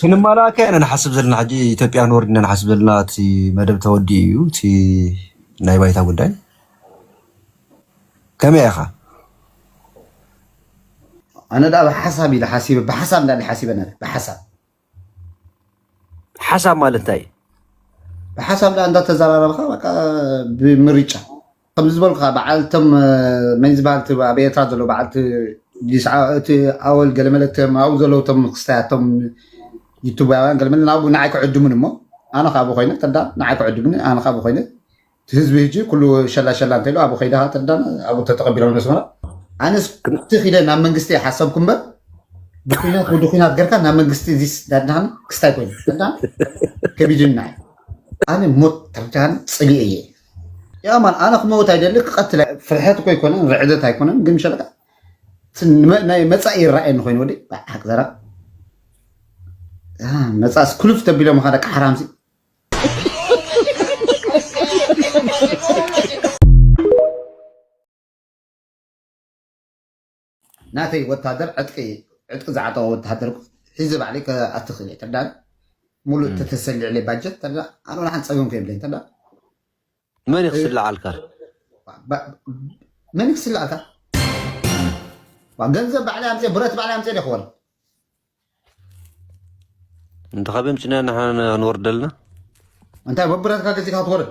ክንማላኣካ ኢና ንሓስብ ዘለና ሕጂ ኢትዮጵያ ንወርድ ኢና ንሓስብ ዘለና እቲ መደብ ተወዲኡ እዩ እቲ ናይ ባይታ ጉዳይ ከመይ ኢኻ ኣነ ደኣ ብሓሳብ ኢለ ሓሲበ ብሓሳብ እንዳ ሓሲበ ነረ ብሓሳብ ሓሳብ ማለት እንታይ ብሓሳብ ደኣ እንዳተዘራረብካ በቃ ብምርጫ ከምዚ ዝበልኩኻ በዓል እቶም መን ዝበሃል እቲ ኣብ ኤርትራ ዘሎ በዓል እቲ ዲስዓ እቲ ኣወል ገለመለ እቶም ኣብኡ ዘለዉ እቶም ክስታያት እቶም ዩቱባውያን ገለመለ ናብኡ ንዓይ ክዕድሙኒ እሞ ኣነ ከ ኣብኡ ኮይነ ተርዳን ንዓይ ክዕድሙኒ ኣነ ከ ኣብኡ ኮይነ እቲ ህዝቢ ህጂ ኩሉ ሸላ ሸላ እንተኢሉ ኣብኡ ከይደ ከ ተርዳን ኣብኡ ተተቐቢሎም ነስመራ ኣነስ ግን እቲ ኪደ ናብ መንግስቲ እየ ሓሰብኩ እምበር ብኩናት ወዲ ኩናት ገርካ ናብ መንግስቲ እዚ ዳድናኻኒ ክስታይ ኮይኑ ተርዳን ከቢድኒ ንዓይ ኣነ ሞት ተርዳን ጽሊኤ እየ ያማን ኣነ ክመውት ኣይደሊ ክቀትል ኣይ- ፍርሐት እኮ ኣይኮነን ርዕደት ኣይኮነን ግን ሸለቃ እቲ ንመ- ናይ መፃኢ ይረኣየኒ ኮይኑ ወዲ ብሓቂ ዘራ ያ፣ መፃእስ ክሉፍ ተቢሎም ካ ደቂ ሓራምሲ ናተይ ወታደር ዕጥቂ ዕጥቂ ዝዓጠቀ ወታደር ሒዘ ባዕለይ ከኣቲ ክእል እየ ተዳ ሙሉእ ተተሰሊዕለይ ባጀት ተዳ ኣነ ወላ ሓንቲ ፀገም ከይብለኝ ተዳ መን እዩ ክስልዓልካ መን እዩ ክስልዓልካ ገንዘብ ባዕለይ ኣምፅእ ብረት ባዕለይ ኣምፅእ ደ ክወል እንተኸበ ምፅና ንወርደልና እንታይ በብረትካ ገዚእካ ክትወርድ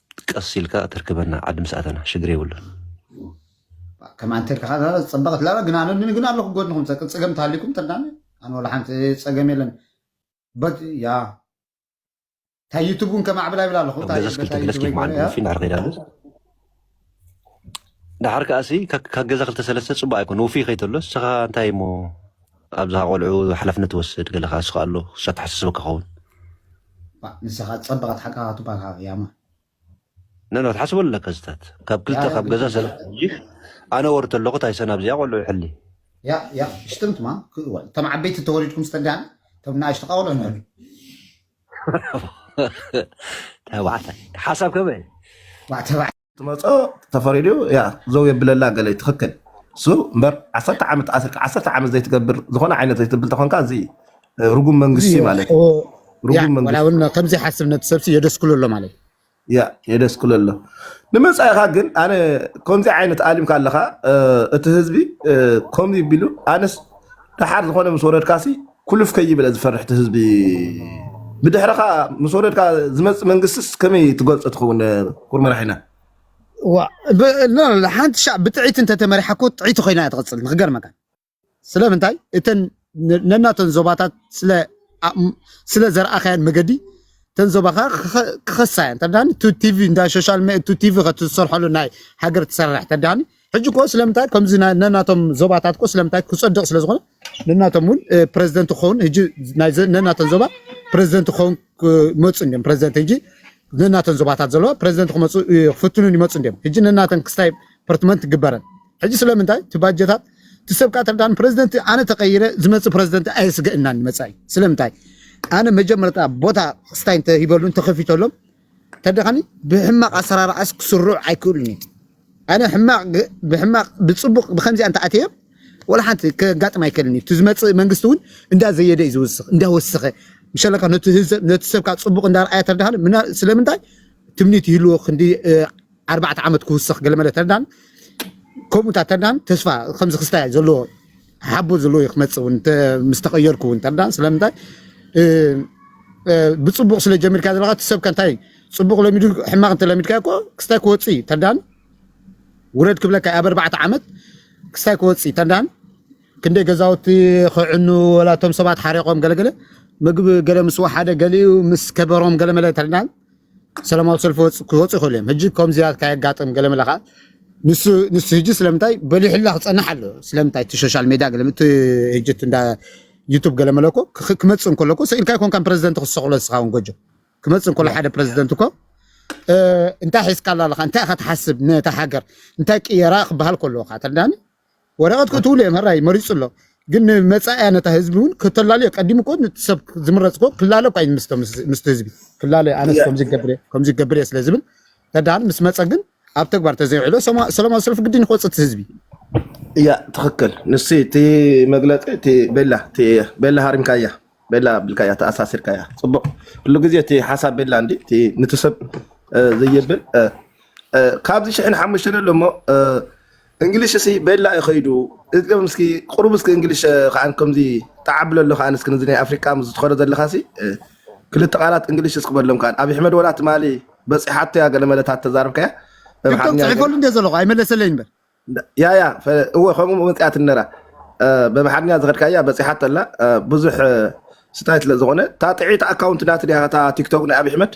ቀስ ኢልካ ተርክበና ዓዲ ምስ ኣተና ሽግር የብሉን። ከምኣ እንተልካ ከኣ ዛራ ዝጸበቐት ላባ ግን ኣነ ግን ኣለኹ ጎድንኹም ጸቅን ጸገም ተሃሊኩም ተርዳኒ ኣነ ወላ ሓንቲ ጸገም የለን በት ያ ታይ ዩቱብ እውን ከማዕብል ኣይብል ኣለኹ ገዛስ ክልተ ግለስ ኬፍ መዓልቲ ፊን ኣርኺዳሉ ደሓር ከኣ ሲ ካብ ገዛ ክልተ ሰለስተ ጽቡቅ ኣይኮን ውፍይ ከይተሎ ንስኻ እንታይ እሞ ኣብዛ ቆልዑ ሓላፍነት ትወስድ ገለ ከኣ ስኻ ኣሎ እሳ ተሓሳስበካ ከውን ንስኻ ጸበቐት ሓቃኻ ትባልካ ያማ ነኖ ትሓስበ ኣለካ ዝታት ካብ ክልተ ካብ ገዛ ሰለ ኣነ ወር ተለኹ ታይሰን ኣብዚኣ ቆልዑ ይሕሊ ያ ያ ሽትምትማ ክወል ተም ዓበይቲ ተወሊድኩም ስተዳን ተም ናእሽቱ ቃውሎ ንሕሉ ተባዕታይ ሓሳብ ከመይ ባዕተባዕ ትመፆ ተፈሪዱ ያ ዘው የብለላ ገለ ትኽክል እሱ እምበር ዓሰርተ ዓመት ኣስርካ ዓሰርተ ዓመት ዘይትገብር ዝኾነ ዓይነት ዘይትብል ተኾንካ እዚ እ፣ ርጉም እዚ መንግስቲ ማለት እዩ ርጉም ያ ዋላ መንግስቲ እውን ከምዚ ሓስብ ነቲ ሰብሲ የደስክሉ ኣሎ ማለት እዩ። ያእ የደስክሎ ኣሎ ንመፃኢኻ ግን ኣነ ከምዚ ዓይነት ኣሊምካ ኣለኻ እ፣ እቲ ህዝቢ እ፣ ከምዚ ቢሉ ኣነስ ደሓር ዝኾነ ምስ ወረድካሲ ኩልፍ ከይብል እየ ዝፈርሕ እቲ ህዝቢ ብድሕረኻ ምስ ወረድካ ዝመፅእ መንግስትስ ከመይ ትገልፆ ትኸውን እ፣ ኩር መራሒና ዋ ብ- ላ- ላ- ሓንቲ ሻዕ ብጥዒት እንተተመሪሓ እኮ ጥዒቲ ኮይና እያ ትቕፅል ንክገርመካ ስለምንታይ እተን ነናተን ዞባታት ስለ ዘርኣኻያን መገዲ እተን ዞባኻ ክኸሳ እየን ተዳኒ ቲቪ እንዳ ሶሻል ቲቪ ከትሰርሐሉ ናይ ሃገር ትሰርሕ ተዳኒ ሕጂ ኮ ስለምንታይ ከምዚ ነናቶም ዞባታት ኮ ስለምንታይ ክፀድቕ ስለ ዝኾነ ነናቶም እውን ፕረዚደንት ክኸውን ሕጂ ነናተን ዞባ ፕረዚደንት ክኸውን ክመፁ እንዲም ፕረዚደንት ሕጂ ነናተን ዞባታት ዘለዋ ፕረዚደንት ክመፁ ክፍትኑን ይመፁ እንዲም ሕጂ ነናተን ክስታይ ፐርትመንት ግበረን ሕጂ ስለምንታይ እቲ ባጀታት እቲ ሰብ ከዓ ተርዳን ፕረዚደንት ኣነ ተቀይረ ዝመፅእ ፕረዚደንት ኣየስገእናን መፃኢ ስለምንታይ ኣነ መጀመርታ ቦታ ስታይ እንተሂበሉ እንተከፊተሎም ተደኻኒ ብሕማቅ ኣሰራርዓስ ክስርዑ ኣይክእሉን እዩ ኣነ ሕማቅ ብሕማቅ ብፅቡቅ ብከምዚኣ እንተኣተዮም ወላ ሓንቲ ከጋጥም ኣይክእልን እዩ እቲ ዝመፅእ መንግስቲ እውን እንዳ ዘየደ እዩ ዝውስኽ እንዳወሰኸ ምሸለካ ነቲ ሰብካ ፅቡቅ እንዳርኣያ ተርዳኻኒ ስለምንታይ ትምኒት ይህልዎ ክንዲ ኣርባዕተ ዓመት ክውሰኽ ገለመለ ተዳን ከምኡ እንታ ተዳን ተስፋ ከምዚ ክስታይ ዘለዎ ሓቦ ዘለዎ እዩ ክመፅእ እውን ምስ ተቐየርኩ እውን ተዳን ስለምንታይ ብፅቡቕ ስለ ጀሚርካ ዘለካ እቲ ሰብከ እንታይ ፅቡቕ ለሚዱ ሕማቕ እንተለሚድካ እኮ ክስታይ ክወፅእ እዩ ተዳን ውረድ ክብለካ ኣብ ኣርባዕተ ዓመት ክስታይ ክወፅእ እዩ ተዳን ክንደይ ገዛውቲ ክዕኑ ወላ እቶም ሰባት ሓሪቖም ገለገለ ምግቢ ገለ ምስ ወሓደ ገሊኡ ምስ ከበሮም ገለመለ ተዳን ሰላማዊ ሰልፊ ክወፁ ይኽእሉ እዮም ሕጂ ከምዚያ ካየጋጥም ገለመለ ከዓ ንሱ ንሱ ሕጂ ስለምንታይ በሊሕላ ክፀንሕ ኣሎ ስለምንታይ እቲ ሶሻል ሜድያ ገለ እቲ ሕጂ እቲ እንዳ ዩቱብ ገለመለ እኮ ክኽ- ክመፅእ እንከሎ እኮ ሰኢልካ ይኮንካን ፕረዚደንት ክትሰቕሎ ንስኻ እውን ጎጆ ክመፅእ እንከሎ ሓደ ፕረዚደንት እኮ እ፣ እንታይ ሒዝካላ ኣለኻ እንታይ ኢኻ ትሓስብ ነታ ሃገር እንታይ ቅየራ ክበሃል ከለዎ ከዓ ተረዳኒ ወረቐት ከእትውሉ እዮም ሕራይ መሪጹ ኣሎ ግን ንመጻእያ ነታ ህዝቢ እውን ከተላልዮ ቀዲሙ እኮ ንቲ ሰብ ዝምረጽ እኮ ክላለ እኳ እዩ ምስቶ ምስቲ ህዝቢ ክላለ እዩ ኣነስ ከምዚ ይገብር እየ ከምዚ ይገብር እየ ስለ ዝብል ተዳን ምስ መጸ ግን ኣብ ተግባር ተዘይውዕሎ ሰማ- ሰላማዊ ሰልፊ ግድን ክወጽእ እቲ ህዝቢ እያ ትኽክል ንሱ እቲ መግለፂ እቲ ቤላ እቲ ቤላ ሃሪምካያ ቤላ ኣቢልካያ ተኣሳሲርካያ ፅቡቅ ኩሉ ግዜ እቲ ሓሳብ ቤላ እንዲ እቲ ንቲ ሰብ እ፣ ዘየብል እ፣ እ፣ ካብዚ ሽሕን ሓሙሽተን ኣሎ እሞ እ፣ እንግሊሽ እሲ ቤላ እዩ ከይዱ እዝገብ ምስኪ ቁሩብ እስኪ እንግሊሽ እ፣ ከዓ ከምዚ ተዓብሎ ኣሎ ከዓ እስኪ ነዚ ናይ ኣፍሪቃ ምስ ዝትኸዶ ዘለካ ሲ እ፣ ክልተ ቃላት እንግሊሽ እስኪ በሎም ከዓ ኣብ ሕመድ ወላ ትማሊ በፂሓቶ እያ ገለ መለታት ተዛርብካያ ቲክቶክ ብምሓርኛ ገለ ፅሒፈሉ እንደ ዘለኹ ኣይመለሰለይን በል ያያ እወ ከምኡ መፅኣት ነራ በምሓርኛ ዝኸድካያ በፂሓቶ ኣላ ብዙሕ ስታይ ስለ ዝኾነ እታ ጥዒት ኣካውንት ናት ድያ እታ ቲክቶክ ናይ ኣብይ ኣሕመድ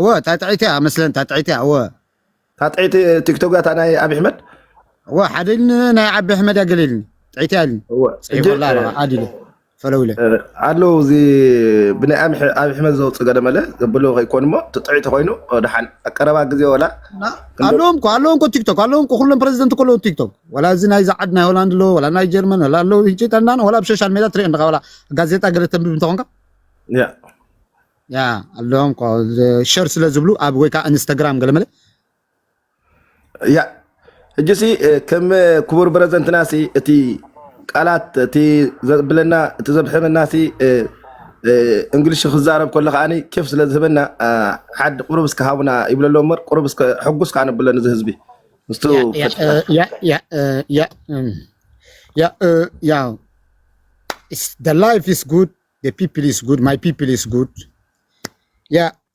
እወ እታ ጥዒት እያ መስለን እታ ጥዒት እያ እወ እታ ጥዒት ቲክቶክ እታ ናይ ኣብይ ኣሕመድ እወ ሓደ ኢልኒ ናይ ዓቢ ኣሕመድ እያ ገለ ኢልኒ ጥዒት እያ ኢልኒ እወ ጽሒፈላ ኣለኻ ኣድ ኢለ ፈለው ኢለ ኣሎ እዚ ብናይ ኣምሒ- ኣብ ሕመት ዘውፅ ገለመለ ዘብሎ ከይኮን እሞ ትጥዒ ተኮይኑ ድሓን ኣቀረባ ግዜ ወላ እና ክንዶ ኣለዎም እኮ ኣለዎም እኮ ቲክቶክ ኣለዎም እኮ ኩሎም ፕረዚደንት እኮ ኣለዎ ቲክቶክ ወላ እዚ ናይ ዝዓድ ናይ ሆላንድ ኣለዎ ወላ ናይ ጀርመን ወላ ኣለዎ እንጭ ጠናን ወላ ኣብ ሶሻል ሜድያ ትሪኦ ኣለካ ወላ ጋዜጣ ገለ ተንብብ እንተኮንካ ያ ያ ኣለዎም እኮ ሸር ስለ ዝብሉ ኣብ ወይ ከዓ ኢንስታግራም ገለመለ ያ ሕጂ ሲ እ፣ ከም እ፣ ክቡር ፕረዘንትና ሲ እቲ ቃላት እቲ ዘብለና እቲ ዘብሕመና ሲ እ፣ እ፣ እንግሊሽ ክዛረብ ከሎ ከዓኒ ኬፍ ስለ ዝህበና አ፣ ሓድ ቁሩብ እስከ ሃቡና ይብሎ ኣሎ እምበር ቁሩብ እስከ ሕጉስ ከኣ ነብሎ ነዚ ህዝቢ ምስቱ ያ ያ እ፣ ፈቲኻ ያ ያ እ፣ ያ እም፣ ያ እ፣ ያው the life is good the people is good my people is good ያ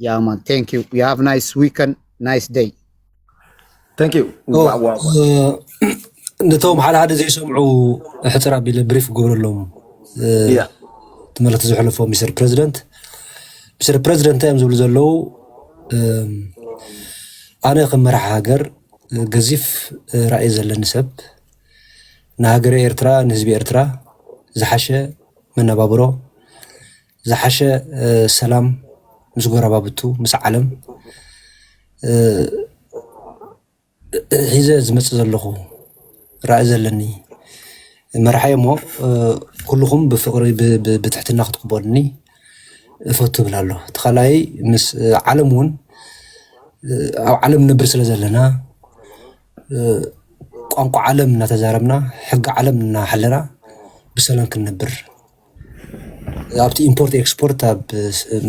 ያ ማን ቴንክ ዩ ዩ ሃቭ ናይስ ዊከን ናይስ ደይ ቴንክ ዩ ነቶም ሓደ ሓደ ዘይሰምዑ ሕፅር ኣቢለ ብሪፍ ክገብረሎም ትመልክቲ ዝሕልፎ ሚስተር ፕረዚደንት ሚስተር ፕረዚደንት እንታይ እዮም ዝብሉ ዘለዉ ኣነ ከም መራሒ ሃገር ገዚፍ ራእይ ዘለኒ ሰብ ንሃገረ ኤርትራ ንህዝቢ ኤርትራ ዝሓሸ መነባብሮ ዝሓሸ ሰላም ምስ ጎረባብቱ ምስ ዓለም ሒዘ ዝመፅእ ዘለኹ ራኢ ዘለኒ መራሒ እሞ ኩልኹም ብፍቅሪ ብትሕትና ክትቅበሉኒ እፈቱ ይብል ኣሎ እቲ ካልኣይ ምስ ዓለም እውን ኣብ ዓለም ንብር ስለ ዘለና ቋንቋ ዓለም እናተዛረብና ሕጊ ዓለም እናሓለና ብሰላም ክንነብር ኣብቲ ኢምፖርት ኤክስፖርት ኣብ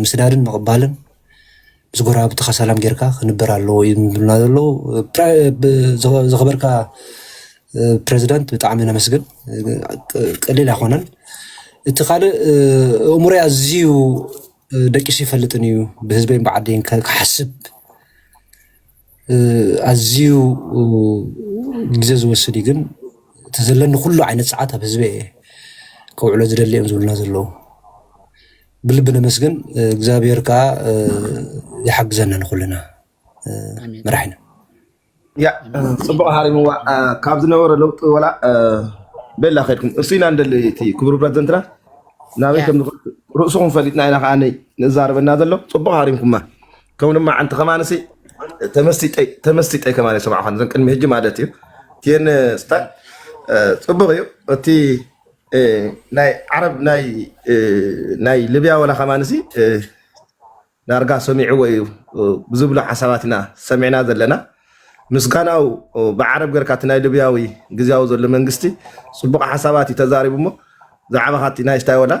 ምስዳድን ምቕባልን ምስ ጎረባብትኻ ሰላም ጌርካ ክንበር ኣለዎ እዮም ዝብሉና ዘለዉ ዝኸበርካ ፕረዚዳንት ብጣዕሚ ነመስግን ቀሊል ኣይኮነን እቲ ካልእ እእምሮይ ኣዝዩ ደቂሱ ይፈልጥን እዩ ብህዝበይን ብዓደይን ክሓስብ ኣዝዩ ግዘ ዝወስድ እዩ ግን እቲ ዘለኒ ኩሉ ዓይነት ሰዓት ኣብ ህዝበይ እየ ከውዕሎ ዝደሊ እዮም ዝብሉና ዘለዉ ብልቢ ነመስግን እግዚኣብሔር ከዓ ይሓግዘና ንኩልና መራሒና ፅቡቅ ሃሪምዋ ካብ ዝነበረ ለውጢ ወላ ቤላ ከድኩም እሱ ኢና ንደሊ እቲ ክቡር ፕረዚደንትና ናበይ ከምዝኸ ርእስኹም ፈሊጥና ኢና ከዓ ንዛረበና ዘሎ ፅቡቅ ሃሪምኩማ ከም ልማዓንቲ ከማንሲ ተመስጢጠይ ተመስጢጠይ ከማን የሰማዕኳን እዘን ቅድሚ ሕጂ ማለት እዩ እቲን ስታይ ፅቡቅ እዩ እቲ እ፣ ናይ ዓረብ ናይ እ፣ ናይ ልብያ ወላ ከማንሲ እ፣ ዳርጋ ሰሚዕዎ እዩ እ፣ ብዝብሎ ሓሳባት ኢና ሰሚዕና ዘለና ምስጋናው ብዓረብ ገርካ እቲ ናይ ልብያዊ ግዝያዊ ዘሎ መንግስቲ ፅቡቅ ሓሳባት እዩ ተዛሪቡ እሞ ዛዕባ ካቲ ናይ ስታይ ወላ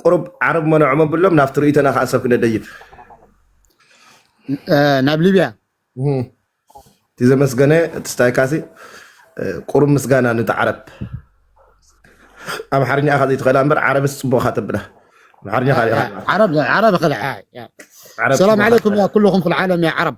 ቁሩብ ዓረብ መኖዖም ኣብሎም ናብቲ ርእይቶና ከዓ ሰብ ክነደይብ ናብ ሊብያ እቲ ዘመስገነ እቲ ስታይ ካሲ ቁሩብ ምስጋና ነቲ ዓረብ ኣምሓርኛ ኢኻ ዘይትኽእላ እምበር ዓረብስ ፅቡቅ ኢኻ ተብላ ኣምሓርኛ ዓረብ ዓረብ ኸልዓ ዓረብ ሰላም ዓለይኩም ያ ኩልኹም ፊ ልዓለም ያ ዓረብ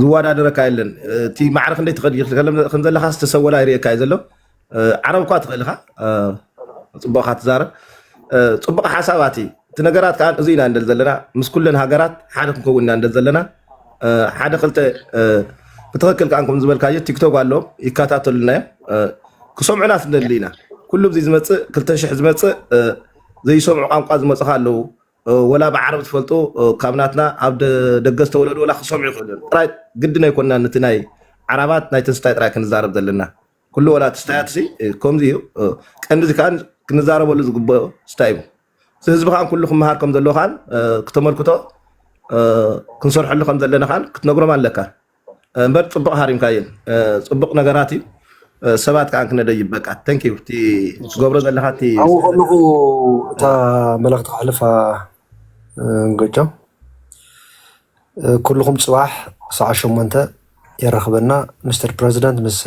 ዝወዳደረካ የለን እቲ ማዕረ ክንደይ ትኸዲ ከም ዘለካ ዝተሰወላ ይርእየካ እዩ ዘሎ እ፣ ዓረብ እኳ ትኽእል ኢኻ እ፣ ፅቡቕካ ትዛረብ እ፣ ፅቡቕ ሓሳባት እዩ እቲ ነገራት ከዓ እዚ ኢና እንደል ዘለና ምስ ኩለን ሃገራት ሓደ ክንከውን ኢና እንደል ዘለና እ፣ ሓደ ክልተ እ፣ ብትኽክል ከዓ ከም ዝበልካዮ ቲክቶክ ኣለዎም ይከታተሉና እዮም እ፣ ክሰምዑና ስንደሊ ኢና ኩሉ እዚ ዝመፅእ ክልተ ሽሕ ዝመፅእ እ፣ ዘይሰምዑ ቋንቋ ዝመፁኻ ኣለዉ ወላ ብዓረብ ትፈልጦ ካብ ናትና ኣብ ደገ ዝተወለዱ ወላ ክሰምዑ ይኽእሉ እዮም ጥራይ ግድን ኣይኮንና ንቲ ናይ ዓራባት ናይ ትንስታይ ጥራይ ክንዛረብ ዘለና ኩሉ ወላ ትስታያት ሲ ከምዚ እዩ ቀንዲ እዚ ከዓ ክንዛረበሉ ዝግበኦ ስታይ እዩ እዚ ህዝቢ ከዓ ኩሉ ክመሃር ከም ዘለዎ ከዓ ክተመልክቶ ክንሰርሐሉ ከም ዘለና ከዓ ክትነግሮም ኣለካ እምበር ፅቡቅ ሃሪምካዮ ፅቡቅ ነገራት እዩ ሰባት ከዓ ክነደይብ በቃ ተንክ ዩ እቲ ትገብሮ ዘለካ እቲ ኣብኡ ስእሊ ከለኹ እታ መልእኽቲ ከሕልፋ ገጮም ኩልኹም ፅባሕ ሰዓት ሸሞንተ የራኽበና ምስተር ፕረዚደንት ምስ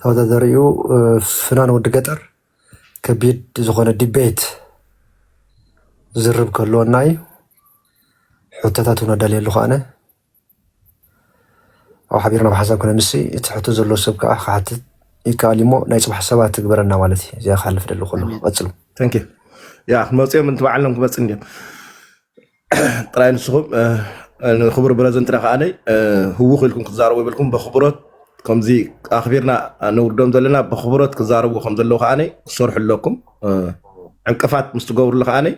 ተወዳዳሪኡ ፍናን ወዲ ገጠር ከቢድ ዝኾነ ዲቤት ዝርብ ከለወና እዩ ሕቶታት እውን ኣዳልየሉ ከኣነ ኣብ ሓቢርና ብሓሳብ ክነምሲ እቲ ሕቶ ዘሎ ሰብ ከዓ ክሓትት ይከኣል እሞ ናይ ፅባሕ ሰባት ትግበረና ማለት እዩ እዚኣ ክሓልፍ ደሊ ከሎ ቀፅሉ ተንክ ያ ክመፅኦም እንቲ በዓሎም ክመፅ እንዲም ጥራይ ንስኹም ንክቡር ብረዘንትና ከዓነይ ህውኽ ኢልኩም ክትዛረቡ ይብልኩም በክብሮት ከምዚ ኣክቢርና ነውርዶም ዘለና ብክብሮት ክዛረቡ ከም ዘለዉ ከዓነይ ክሰርሑ ኣለኩም ዕንቅፋት ምስ ትገብርሉ ከዓነይ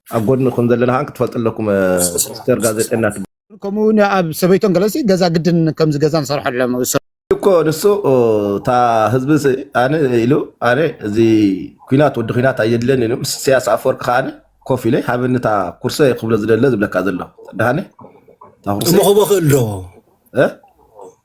ኣብ ጎድንኩም ዘለና ከዓ ክትፈልጡ ኣለኩም ሚስተር ጋዜጠና ትብ ከምኡ እውን ኣብ ሰበይቶን ገለሲ ገዛ ግድን ከምዚ ገዛ ንሰርሐሎም እኮ ንሱ እታ ህዝቢ ስ- ኣነ ኢሉ ኣነ እዚ ኩናት ወዲ ኩናት ኣየድለን ኢሉ ምስ ኢሳያስ ኣፈወርቂ ከዓ ኮፍ ኢለ ሃበኒ እታ ኩርሰ ክብሎ ዝደለ ዝብለካ ዘሎ ተድሃኒ እታ እሞ ኩርሰ ክቦ ክእል ዶ እ?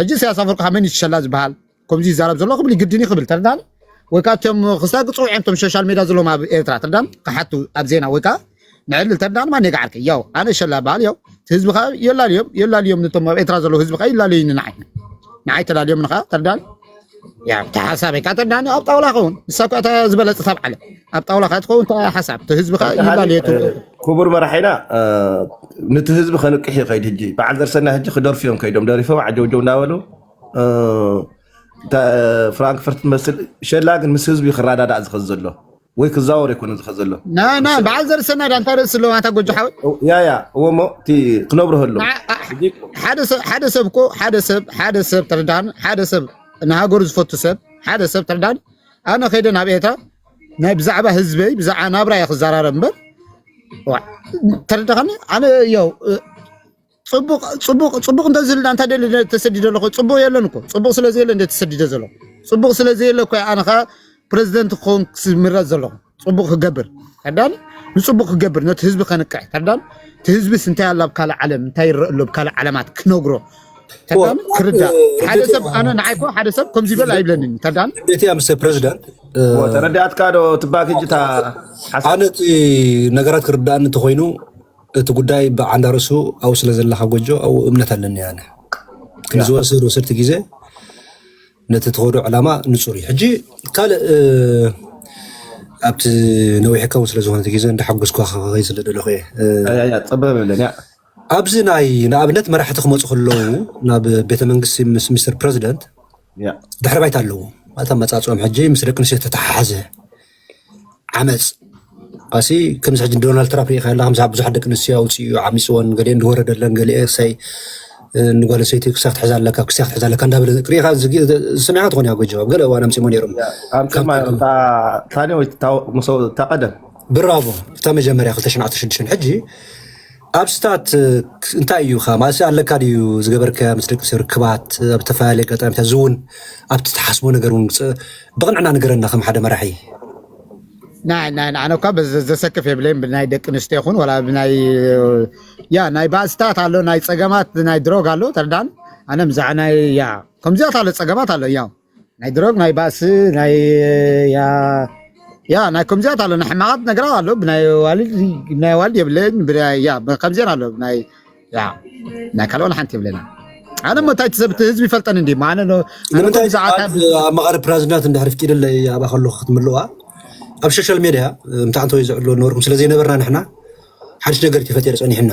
ሕጂ ኢሳያስ ኣፈወርቂ ካብ መን እዩ ትሸላ ዝበሃል ከምዚ ይዛረብ ዘሎ ክብል ግድን እዩ ክብል ተረዳኒ ወይ ከዓ እቶም ክስታ ግፅዑ እዮም እቶም ሶሻል ሜድያ ዘለዎም ኣብ ኤርትራ ተረዳኒ ክሓቱ ኣብ ዜና ወይ ከዓ ንዕልል ተረዳኒ ማን የግዓርከ ያው ኣነ ሸላ በሃል ያው እቲ ህዝቢ ከዓ የላልዮም የላልዮም ነቶም ኣብ ኤርትራ ዘለዉ ህዝቢ ከዓ ይላለዩኒ ንዓይ ንዓይ ተላልዮም ንኸዓ ተረዳኒ ያ ብታ ሓሳበይ ካተ ዳኒ ኣብ ጣውላ ኸውን ንሳ እኳ እታ ዝበለፀት ኣብ ዓለም ኣብ ጣውላ ካት ኸውን እታ ሓሳብ እቲ ህዝቢ ከዓ ይላል ተኻሊ የቱ ክቡር መራሒና እ፣ ነቲ ህዝቢ ከንቅሕ እዩ ከይድ ህጂ በዓል ዘርሰና ህጂ ክደርፉ እዮም ከይዶም ደሪፎም ዓጀውጀው እናበሉ እ፣ እታ ፍራንክፈርት ትመስል ሸላ ግን ምስ ህዝቢ እዩ ክረዳዳእ ዝኸዝ ዘሎ ወይ ክዛወር ኣይኮነን ዝኸ ዘሎ ናና በዓል ዘርሰናድ ኣንታ ርእሲ ኣለዎ ኣንታ ጎጆ ሓወይ ያ ያ እዎ እሞ እቲ ክነብርህ ኣሎ ሓደ ሰብ ሓደ ሰብ እኮ ሓደ ሰብ ሓደ ሰብ ተረዳኒ ሓደ ሰብ ንሃገሩ ዝፈቱ ሰብ ሓደ ሰብ ተረዳኒ ኣነ ከይደ ናብ ኤርትራ ናይ ብዛዕባ ህዝበይ ብዛዕባ ናብራ እየ ክዘራረብ እምበር ተረዳኸኒ ኣነ ያው ጽቡቕ ጽቡቕ ጽቡቕ እንተዝህልና እንታይ ደሊ ተሰዲደ ኣለኹ ጽቡቕ የለን እኮ ጽቡቕ ስለ ዘየለ እንደ ተሰዲደ ዘለኹ ጽቡቕ ስለ ዘየለ እኮ ኣነ ከዓ ፕረዚደንት ክኸውን ክምረጽ ዘለኹ ጽቡቕ ክገብር ተዳኒ ንጽቡቕ ክገብር ነቲ ህዝቢ ከንቅሕ ተዳኒ እቲ ህዝቢስ እንታይ ኣሎ ኣብ ካልእ ዓለም እንታይ ይረአ ኣሎ ኣብ ካልእ ዓለማት ክነግሮ ተዳኒ ክርዳእ ሓደ ሰብ ኣነ ንዓይ እኮ ሓደ ሰብ ከምዚ በል ኣይብለንን ተዳኒ እንዴት ያ ምስ ፕሬዚዳንት ተረዳእትካ ዶ ትባክ እጅታ ሓሳብ ኣነ እቲ ነገራት ክርዳእኒ እንተኮይኑ እቲ ጉዳይ ብዓንዳ ርእሱ ኣብኡ ስለ ዘለካ ጎጆ ኣብኡ እምነት ኣለኒ ኣነ ያ ክንዲ ዝወስድ ወሰድቲ ግዜ ነቲ ትኸዶ ዕላማ ንጹር እዩ ሕጂ ካልእ እ፣ ኣብቲ ነዊሕ ከውን ስለ ዝኾነ እቲ ግዜ እንዳሓጎስኳ ከኸኸይ ስለ ደለኹ እየ እ፣ ያ ያ ጸበብ የለን ያ ኣብዚ ናይ ንኣብነት መራሕቲ ክመፁ ከለዉ ናብ ቤተ መንግስቲ ምስ ሚስተር ፕረዚደንት ያ ድሕሪ ባይታ ኣለዎም ማለት ኣመፃፅኦም ሕጂ ምስ ደቂ ኣንስትዮ ተተሓሓዘ ዓመፅ ኣሲ ከምዚ ሕጂ ዶናልድ ትራምፕ ሪኢኻ ኣለኻ ምስ ብዙሓት ደቂ ኣንስትዮ ኣውፂኡ ዓሚፅወን ገሊአን ዝወረደለን ገሊአ እሰይ ንጓል ኣንስተይቲ ክሳብ ክትሕዛ ኣለካ ክሳብ ክትሕዛ ኣለካ እንዳበለ ሪኢኻ ዝሰሚዕካ ትኾን ኢኻ ጎጆ ኣብ ገለ እዋን ኣምፂሞ ነይሮም ታኔ ወይ ታቀደም ብራቮ እታ መጀመርያ 2016 ሕጂ ኣብስታት እንታይ እዩ ከ ማለት ኣለካ ድዩ ዝገበርከያ ምስ ደቂ ርክባት ኣብ ዝተፈላለየ ኣጋጣሚታት እዚ እውን ኣብቲ ትሓስቦ ነገር እውን ብቕንዕና ንገረና ከም ሓደ መራሒ ናይ ናይ ንዓነ እኳ ዘሰክፍ የብለይን ብናይ ደቂ ኣንስትዮ ይኹን ወላ ብናይ ያ ናይ ባእስታት ኣሎ ናይ ፀገማት ናይ ድሮግ ኣሎ ተርዳን ኣነ ብዛዕ ናይ ያ ከምዚኣት ኣሎ ፀገማት ኣሎ ያው ናይ ድሮግ ናይ ባእሲ ናይ ያ ያ ናይ ከምዚያት ኣሎ ናይ ሕማቓት ነገራት ኣሎ ብናይ ዋልድ ብናይ ዋልድ የብለኝ ብናይ ያ ከምዚያን ኣሎ ብናይ ያ ናይ ካልኦን ሓንቲ የብለና ኣነ ሞ እንታይ ትሰብቲ ህዝቢ ይፈልጠኒ እንዲ ኣነ ንምንታይ ሰዓት ኣብ መቐሪ ፕራዚዳንት እንድሕር ፍቂድለ ኣባ ከለኹ ክትምልዋ ኣብ ሶሻል ሜድያ ምታዕንተ ወይ ዝዕሎ ነበርኩም ስለ ዘይነበርና ንሕና ሓድሽ ነገር ተፈጢሩ ፀኒሕና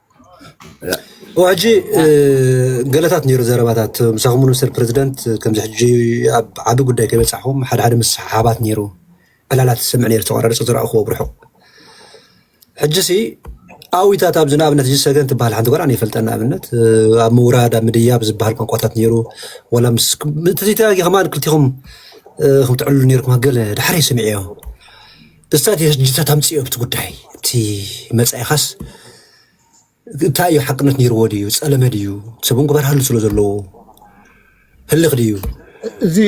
ሕጂ ገለታት ነይሩ ዘረባታት ምሳኹም ምስተር ፕረዚደንት ከምዚ ሕጂ ኣብ ዓቢ ጉዳይ ከይበጻሕኹም ሓደ ሓደ ምስሓሓባት ነይሩ ዕላላት ዝሰምዕ ነይሩ ተቆራርጹ ዝረኣኹዎ ብርሑቕ ሕጂሲ ኣዊታት ኣብዚ ንኣብነት እዚ ሰገን ትበሃል ሓንቲ ጓል ኣነ ይፈልጠን ንኣብነት ኣብ ምውራድ ኣብ ምድያብ ዝበሃል ቋንቋታት ነይሩ ወላ ምስ እቲ ዘይተጋጊ ከማን ክልቲኹም ከም ትዕልሉ ነይርኩም ገለ ድሓር ይስምዕ እዮ እስታ ዲታ ታምፅኦ ብቲ ጉዳይ እቲ መፃኢኻስ እንታይ እዩ ሓቅነት ነይርዎ ድዩ ፀለመ ድዩ ሰብን ክበርሃሉ ስለ ዘለዎ ህልኽ ድዩ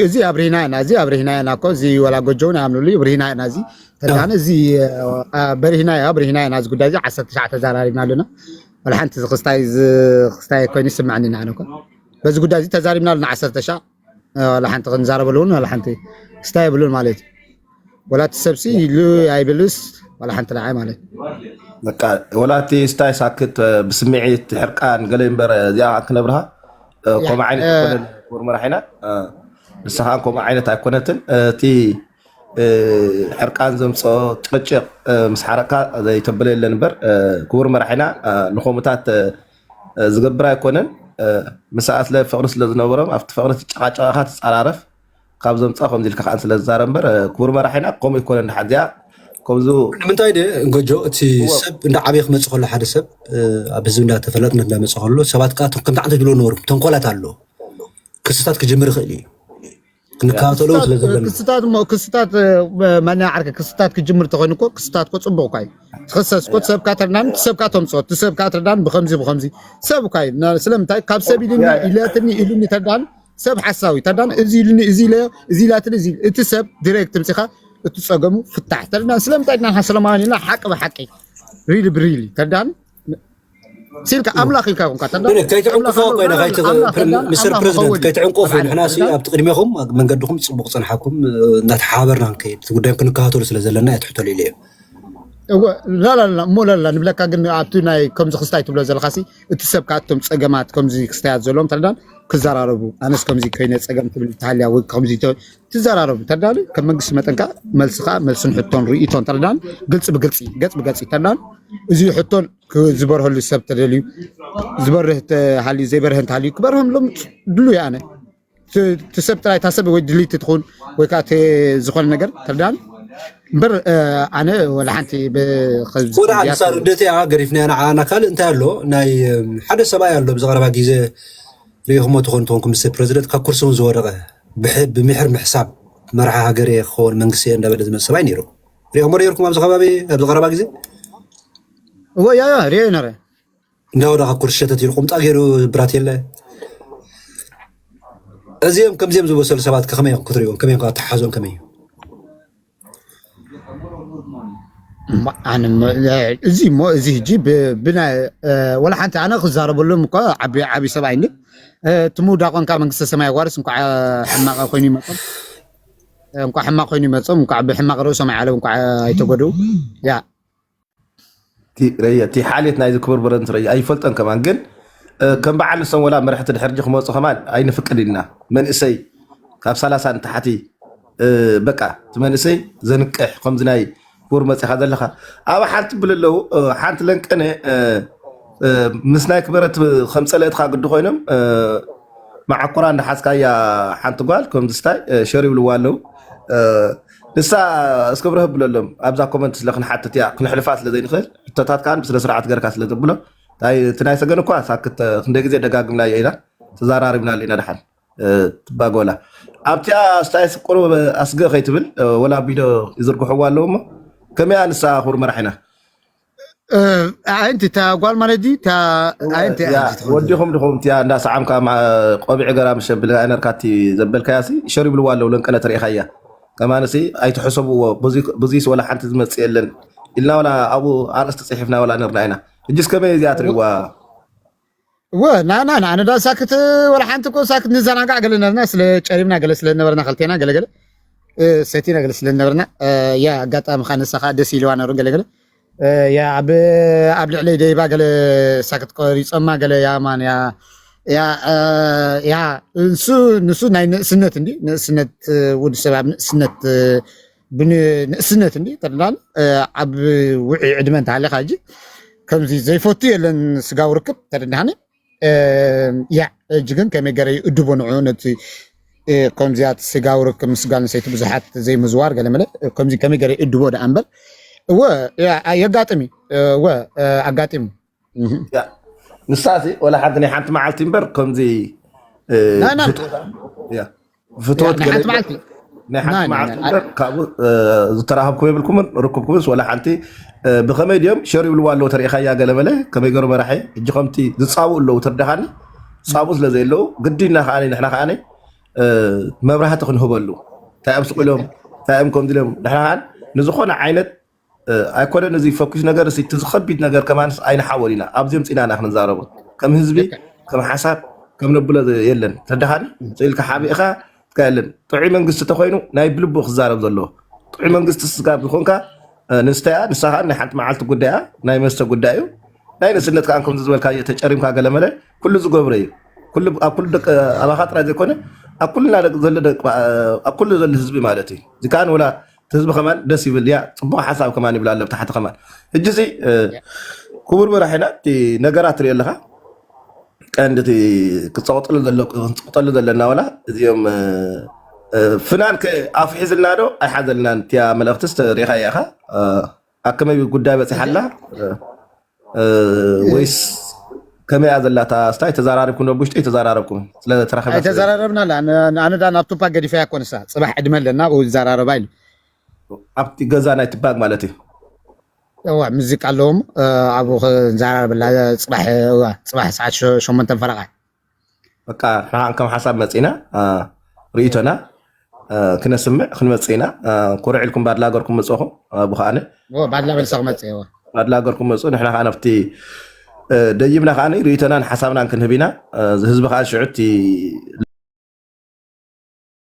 እዚ ኣብሪህና ኢና እዚ ኣብሪህና ኢና እኮ እዚ ወላ ጎጆ እውን ይኣምንሉ እዩ ብሪህና ኢና እዚ ተዳነ እዚ በሪህና ያ ብሪህና ኢና እዚ ጉዳይ እዚ ዓሰርተ ትሽዓተ ተዛራሪብና ኣለና ወላ ሓንቲ ክስታይ ክስታይ ኮይኑ ይስምዐኒ ኢና ኣነ እኮ በዚ ጉዳይ እዚ ተዛሪብና ኣለና ዓሰርተ ሻዕ ዋላ ሓንቲ ክንዛረበሉ እውን ዋላ ሓንቲ ስታ የብሉን ማለት እዩ ወላ እቲ ሰብሲ ይሉ ኣይብልስ ዋላ ሓንቲ ንዓይ ማለት እዩ ወላቲ ስታይ ሳክት ብስምዒት ሕርቃን ገለ እምበር እዚኣ ክነብርሃ ከምኡ ዓይነት ኣይኮነን ክቡር መራሒና ንስኻ ከምኡ ዓይነት ኣይኮነትን እቲ ሕርቃን ዘምፅኦ ጭቕጭቕ ምስ ሓረካ ዘይተበለ የለን እምበር ክቡር መራሒና ንከምኡታት ዝገብር ኣይኮነን ምሳ ኣስለ ፍቅሪ ስለ ዝነበሮም ኣብቲ ፍቅሪ ትጨቃጨቅ ኢካ ትጻራረፍ ካብ ዘምጻ ከምዚ ኢልካ ከኣ ስለ ዝዛረብ እምበር ክቡር መራሒና ከምኡ ኣይኮነን ድሓን እዚኣ ከምዚ ንምንታይ ደ ጎጆ እቲ እዎ ሰብ እንዳ ዓበየ ክመፅእ ከሎ ሓደ ሰብ ኣብ ህዝቢ እንዳ ተፈላጥነት እንዳ መፅእ ከሎ ሰባት ከዓ ከምቲ ዓንተ ዝብልዎ ነበሩ ተንኮላት ኣሎ ክስታት ክጅምር ይኽእል እዩ ክንከታተሎ ክስታት ስለ እ፣ ዘለና ክስታት እሞ ክስታት እ፣ መን ዓርከ ክስታት ክጅምር ተኮይኑ እኮ ክስታት እኮ ጽቡቅ እኳ እዩ ትኽሰስ እኮ ትሰብካ ተርዳን ትሰብካ ተምጽኦ ትሰብካ ተርዳን ብከምዚ ብከምዚ ሰብ እኳ እዩ ና- ስለምንታይ ካብ ሰብ ኢልኒ ያ ያ ኢለትኒ ኢሉኒ ተርዳን ሰብ ሓሳዊ ተርዳን እዚ ኢልኒ እዚ ኢለ እዚ ኢላትኒ እዚ እቲ ሰብ ዲሬክት ምጽኻ እቲ ጸገሙ ፍታሕ ተርዳን ስለምንታይ ድና ሰለማውያን ኢልና ሓቂ ብሓቂ ሪሊ ብሪሊ ተርዳን ሲልካ ኣምላኽ ኢልካ ኮንካ ተላ ግን ከይትዕንቅፎ ኮይነ ምስር ፕረዚደንት ከይትዕንቅፉ ንሕናሲ ኣብቲ ቅድሜኹም መንገድኹም ፅቡቅ ፅንሓኩም እናተሓባበርና ንከይድ እቲ ጉዳይ ክንከታተሉ ስለ ዘለና እየ ትሕተሉ ኢለ እዮም እወ ላላላ እሞ ላላ ንብለካ ግን ኣብቲ ናይ ከምዚ ክስታይ ትብሎ ዘለካሲ እቲ ሰብ ከዓ እቶም ፀገማት ከምዚ ክስታያት ዘለዎም ተረዳን ክዘራረቡ ኣነስ ከምዚ ኮይነ ፀገም ትብል ተሃልያ ወይ ከምዚ ትዘራረቡ ተዳሉ ከም መንግስቲ መጠን ከዓ መልሲ ከዓ መልስን ሕቶን ርእቶን ተዳን ግልፂ ብግልፂ ገፅ ብገፅ ተዳን እዚ ሕቶን ዝበርሀሉ ሰብ ተደልዩ ዝበርህ ተሃልዩ ዘይበርህ እንተሃልዩ ክበርህም ሎም ድሉ ያነ ትሰብ ጥራይ ታሰብ ወይ ድልይቲ ትኹን ወይ ከዓ ዝኾነ ነገር ተዳን እምበር ኣነ ወላ ሓንቲ ወደ ሓንቲ ሳር ደት እያ ገሪፍና ኢና ዓና ካልእ እንታይ ኣሎ ናይ ሓደ ሰብኣይ ኣሎ ብዝቐረባ ግዜ ሪኢኹሞ ትኾኑ ትኾንኩም ምስ ፕረዚደንት ካብ ኩርሲ እውን ዝወደቐ ብምሒር ምሕሳብ መራሒ ሃገር እየ ክኸውን መንግስቲ እየ እንዳበለ ዝመፅ ሰብኣይ ነይሩ ሪኦሞ ነይርኩም ኣብዚ ከባቢ ኣብዚ ቀረባ ግዜ እዎ ያ ያ ሪኦ ነረ እንዳወዳ ካብ ኩርሲ ሸተት ኢሉ ቁምጣ ገይሩ ብራት የለ እዚኦም ከምዚኦም ዝበሰሉ ሰባት ከመይ ክትሪእዎም ከመይ ኣተሓሓዞም ከመይ እዩ እዚ እሞ እዚ ሕጂ ብናይ ወላ ሓንቲ ኣነ ክዛረበሎም እኳ ዓቢ ዓቢ ሰብ ኣይኒ እቲ ምውዳቆንካ መንግስተ ሰማይ ኣዋርስ እንኳዕ ሕማቀ ኮይኑ ይመጾም እንኳዕ ሕማቅ ኮይኑ ይመጾም እንኳዕ ብሕማቅ ርእሶም ዓለም እንኳዕ ኣይተጎድኡ ያ እቲ ሓልየት ናይዚ ክቡር ብረንት ረያ ኣይፈልጦን ከማን ግን ከም በዓል ንሶም ወላ መራሕቲ ድሕርጂ ክመፁ ከማን ኣይንፍቅድ ኢልና መንእሰይ ካብ ሰላሳ ንታሕቲ በቃ እቲ መንእሰይ ዘንቅሕ ከምዚ ናይ ክቡር መፅኻ ዘለኻ ኣብ ሓንቲ ብል ኣለው ሓንቲ ለንቀነ ምስ ናይ ክበረት ከም ፀለእትካ ግዲ ኮይኖም መዓኮራ እንዳሓዝካያ ሓንቲ ጓል ከምዚ ስታይ ሸር ይብልዋ ኣለው ንሳ እስከ ብርህ ብለሎም ኣብዛ ኮመንት ስለ ክንሓትት እያ ክንሕልፋ ስለ ዘይንኽእል ሕቶታት ከዓ ብስነ ስርዓት ገርካ ስለ ተብሎ ታይ እቲ ናይ ሰገን እኳ ሳክት ተ- ክንደይ ግዜ ደጋግምና እያ ኢና ተዘራሪብና ኣለና ድሓን እ፣ ትባጎላ ኣብቲኣ ስታይስ ቁሩብ ኣስገ ከይትብል እ፣ ወላ ቢዶ ይዝርግሕዋ ኣለዎ እሞ ከመይ ኣንሳ ኩር መራሒና ኣንቲ እታ ጓል ማለት ድዩ እታ ኣንቲ እያ ሕጂ ትኸውን ዘላ ወዲኹም ድኹም እቲያ እንዳ ሰዓምካ መዓ- ቆቢዕ ገራ ምስ ሸብል ኣይነርካ እቲ ዘበልካያ ሲ ሸር ይብልዋ ኣለዉ ለንቀነት ርኢኻያ ከማን ሲ ኣይትሕሰብዎ ብዙ- ብዙይስ ወላ ሓንቲ ዝመጽእ የለን ኢልና ወላ ኣብኡ ኣርእስቲ ጽሒፍና ወላ ነርና ኢና እጅስ ከመይ እዚኣ ትርእዋ እወ ናና ንኣነ ዳ ሳክት ወላ ሓንቲ እኮ ሳክት ንዘናጋዕ ገለ ነርና ስለ ጨሪምና ገለ ስለ ነበርና ከልቴና ገለገለ ሰቲና ገለ ስለ ነበርና ያ ኣጋጣሚ ካ ንሳ ከዓ ደስ ኢልዋ ነሩ ገለገለ ያ ኣብ ኣብ ልዕለይ ደይባ ገለ ሳክት ቆሪፆማ ገለ ያ ማን ያ ያ ያ ንሱ ንሱ ናይ ንእስነት እንዲ ንእስነት ውድ ሰብ ኣብ ንእስነት ብንእስነት እንዲ ጠላን ኣብ ውዒ ዕድመ እንተሃለኻ ሕጂ ከምዚ ዘይፈቱ የለን ስጋዊ ርክብ ተረዳሃኒ ያ ሕጂ ግን ከመይ ገረ ይእድቦ ንዑ ነቲ ከምዚያት ስጋዊ ርክብ ምስ ጓል ኣንስተይቲ ብዙሓት ዘይምዝዋር ገለመለ ከምዚ ከመይ ገረ ይእድቦ ደኣ እምበር እወ የጋጥም እዩ እወ ኣጋጢሙ ንሳሲ ወላ ሓንቲ ናይ ሓንቲ መዓልቲ እምበር ከምዚ ፍትወት ናይ ሓንቲ መዓልቲ እምበር ካብኡ ዝተራኸብኩ የብልኩምን ርክብኩምስ ወላ ሓንቲ ብከመይ ድዮም ሸር ይብልዋ ኣለዉ ተሪኢኻያ ገለመለ ከመይ ገሩ መራሒ እጂ ከምቲ ዝፃብኡ ኣለዉ ትርዳኻኒ ዝፃብኡ ስለዘየለዉ ግዲና ከዓ ንሕና ከዓ መብራህቲ ክንህበሉ እንታይ እዮም ስቁሎም እንታይ እዮም ከምዚ ኢሎም ንሕና ከዓ ንዝኾነ ዓይነት ኣይኮነን እዚ ፈኲስ ነገር እዚ እቲ ዝኸቢድ ነገር ከማንስ ኣይንሓወል ኢና ኣብዚ ምፂና ኢና ክንዛረቦ ከም ህዝቢ ልክዕ ከም ሓሳብ ከም ነብሎ ዘ- የለን ተደኻኒ ስኢልካ ሓቢእኻ ትካ የለን ጥዑይ መንግስቲ ተኮይኑ ናይ ብልቡ ክዛረብ ዘለዎ ጥዑይ መንግስቲ ስጋብ ዝኾንካ እ፣ ንስተያ ንሳ ከዓ ናይ ሓንቲ መዓልቲ ጉዳያ ናይ መስተ ጉዳይ እዩ ናይ ንእስነት ከዓ ከምዚ ዝበልካ እየ ተጨሪምካ ገለመለ ኩሉ ዝገብረ እዩ ኩሉ ኣብ ኩሉ ደቂ ኣባኻ ጥራይ ዘይኮነ ኣብ ኩልና ደቂ ዘሎ ደቂ- ኣብ ኩሉ ዘሎ ህዝቢ ማለት እዩ እዚ ከዓ ንወላ ህዝቢ ከማን ደስ ይብል ያ ፅቡቅ ሓሳብ ከማን ይብል ኣሎ ብታሕቲ ከማን ሕጂ ሲ ክቡር መራሒና እቲ ነገራት ትሪኦ ኣለካ ቀንዲ እቲ ክፀቁጠሉ ዘሎ- ክንፅቁጠሉ ዘለና ዋላ እዚኦም እ፣ እ፣ ፍናን ከ ኣፍሒዝልና ዶ ኣይሓዘልናን እቲያ መልእክትስ ሪኢኻ ኢኻ ኣከመይ ጉዳይ በፂሓ ኣላ ወይስ ከመይ እያ ዘላ እታ ስታይ ተዘራሪብኩም ዶ ብውሽጢ ኣይተዘራረብኩም ስለ ተራኺብና ስለ ኣይተዘራረብና ኣላ ኣነ ዳ ናብ ቱፓክ ገዲፈያ እኮ ንሳ ፅባሕ ዕድመ ኣለና ኣብኡ ይዘራረባ ኢሉ ኣብቲ ገዛ ናይ ትባግ ማለት እዩ እዋ ሙዚቃ ኣለዎም እ፣ ኣብኡ ክንዘራረበላ ፅባሕ እዋ ፅባሕ ሰዓት ሸ- ሸሞንተን ፈረቓ በቃ ርሓቕ ከም ሓሳብ መጺና ርእይቶና ክነስምዕ ክንመጽእ ኢና ኩርዕ ኢልኩም ባድላ ገርኩም መጽኹም ኣቡ ከኣነ ባድላ መልሰ ክመጽእ እዎ ባድላ ገርኩም መጹ ንሕና ከዓ ነፍቲ ደይብና ከዓ ርእይቶናን ሓሳብናን ክንህብ ኢና እዚ ህዝቢ ከዓ ሽዑ እቲ